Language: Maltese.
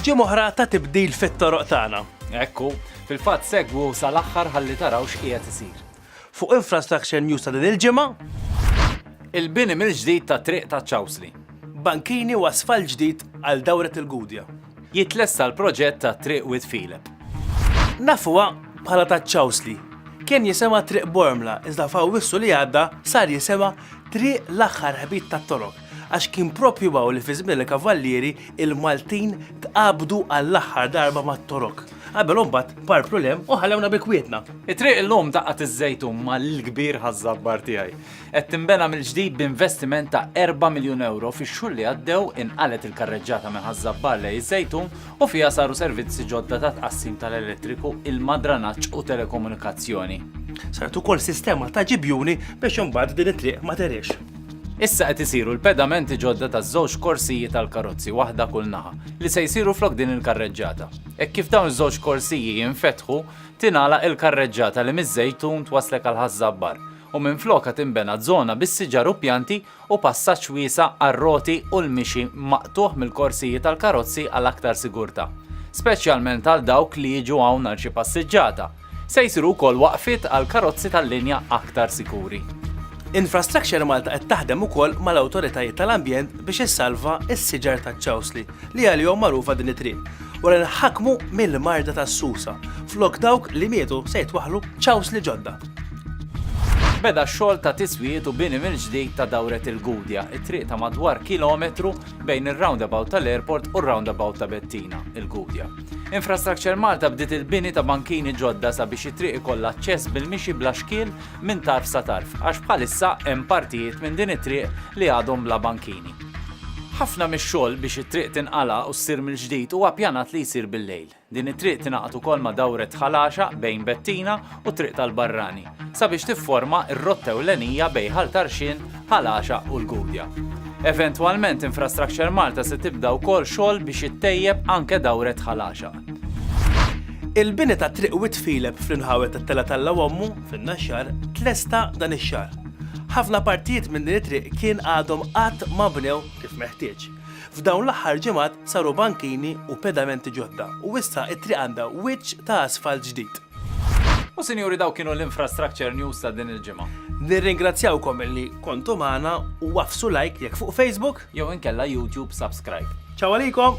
Ġimgħa oħra ta' tibdil fit-toroq tagħna. Ekku, fil-fatt segwu sal-aħħar ħalli taraw x'qiegħed isir. Fuq Infrastructure News ta' din il-ġimgħa. Il-bini mill-ġdid ta' triq ta' Ċawsli. Bankini u asfalt ġdid għal dawret il-Gudja. Jitlesta l-proġett ta' triq Wied Filep. Nafuha bħala ta' Ċawsli. Kien jisemha Triq Bormla iżda f'Awwissu li għadda sar jisemha Triq l-aħħar ħbit tat-toroq. Għax kien propju hawn li fi żmien il-Kavallieri il-Maltin tqabdu għall-aħħar darba mat-Torok. Qabel u mbagħad parplu l-hemm u ħallewna bi kwietna. It-triq 'l lum ta' Qatt iż-Żejtun ma' l-kbir ħaż-Żabbar tiegħi. Qed tinbena mill-ġdid b'investiment ta' erba' miljun ewro fix-xhur li għaddew inqalgħet il-karreġġata minn Ħaż-Żabbar lejn iż-Żejtun u fiha saru servizzi ġodda ta' tqassim tal-elettriku, ilma, dranaġġ u telekomunikazzjoni. Saret ukoll sistema ta' ġibjuni biex imbagħad din it-triq ma tegħriex. Issa qed isiru l-pedamenti ġodda taż-żewġ korsiji tal-karozzi waħda kull naħa, li se jsiru flok din il-karreġġata. Hekk kif dawn iż-żewġ korsiji jinfetħu, tingħalaq il-karreġġata li miż-Żejtun twasslek għal Ħaż-Żabbar, u minflokha tinbena żona bis-siġar u pjanti u passaġġ wiesa' għar-roti u l-mixi maqtugħ mill-korsiji tal-karozzi għal aktar sigurtà, speċjalment għal dawk li jiġu hawn għal xi passiġġata. Se jsiru wkoll waqfiet għal karozzi tal-linja aktar sikuri. Infrastructure Malta qed taħdem ukoll mal-awtoritajiet tal-ambjent biex issalva s-siġar taċ-ċawsli li għalihom magħrufa din it-triq wara li nħakmu mill-marda tas-susa flok dawk li mietu se jitwaħħlu ċawsli ġodda. Beda x-xogħol ta' tiswijiet u bini mill-ġdid ta' dawret il-Gudja, it-triq ta' madwar kilometru bejn ir-roundabout tal-Airport u r-roundabout ta' Bettina, il-Gudja. Infrastructure Malta bdiet il-bini ta' bankini ġodda sabiex it-triq ikollha aċċess bil-mixi bla xkiel minn tarf sa tarf għax bħalissa hemm partijiet minn din it-triq li għadhom bla bankini. Ħafna mix-xogħol biex it-triq tinqala' u ssir mill-ġdid huwa ppjanat li jsir bil-lejl. Din it-triq tingħaqad ukoll ma' dawret Ħal Għaxaq bejn Bettina u Triq tal-Barrani sabiex tifforma r-rotta ewlenija bejn Ħal Tarxien, Ħal Għaxaq u l-Gudja. Eventwalment Infrastructure Malta se tibda wkoll xogħol biex ittejjeb anke dawret Ħal Għaxaq. Il-bini ta' Triq Wied Fileb fl-inħawi tat-Tella t'Alla u Ommu, fin-Naxxar, tlesta dan ix-xahar. Ħafna partijiet minn din it-triq kien għadhom qatt ma bnew kif meħtieġ. F'dawn l-aħħar ġimgħat saru bankini u pedamenti ġodda u issa t-triq għandha wiċċ ta' asfalt ġdid. U sinjuri daw kienu l-infrastructure news ta' din il-ġimgħa. Nirringrazzjawkom illi kontu magħna u għaffsu like jekk fuq Facebook. Jew inkella YouTube subscribe. Ciao għalikom!